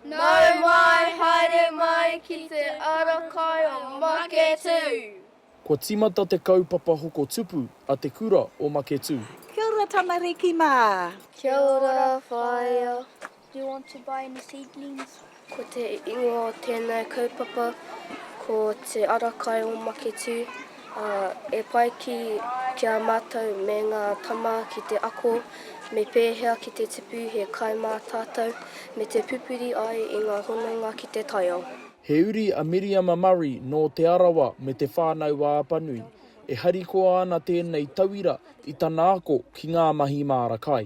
Nau mai, haere mai ki te ara kai o Maketū! Kua tīmata te kaupapa hoko tupu a Te Kura o Maketū. Kia ora tamariki mā! Kia ora whaea! Do you want to buy any seedlings? Ko te ingoa o tēnei kaupapa ko Te Ara Kai o Maketū. Ā, e pai ki, ki a mātou me ngā tama ki te ako me pēhea ki te tipu he kai mā tātou, me te pupuri ai i ngā hononga ki te taiao. He uri a Miriama Murray nō Te Arawa me Te Whānau-a-Apanui, e harikoa ana tēnei tauira i tana ako ki ngā mahi māra kai.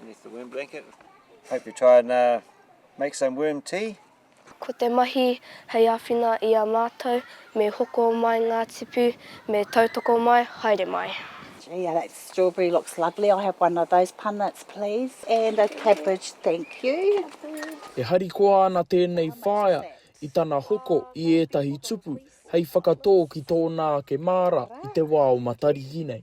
Beneath the worm blanket. Hope you try and uh, make some worm tea. Ko te mahi hei awhina i a matou, me hoko mai nga tipu, me tautoko mai, haere mai. Gee, yeah, that strawberry looks lovely. I have one of those punnets, please. And a cabbage, thank you. E harikoa ana tēnei whaea i tana hoko i ētahi tupu hei whakatō ki tōna ake māra i te wā o Matariki nei.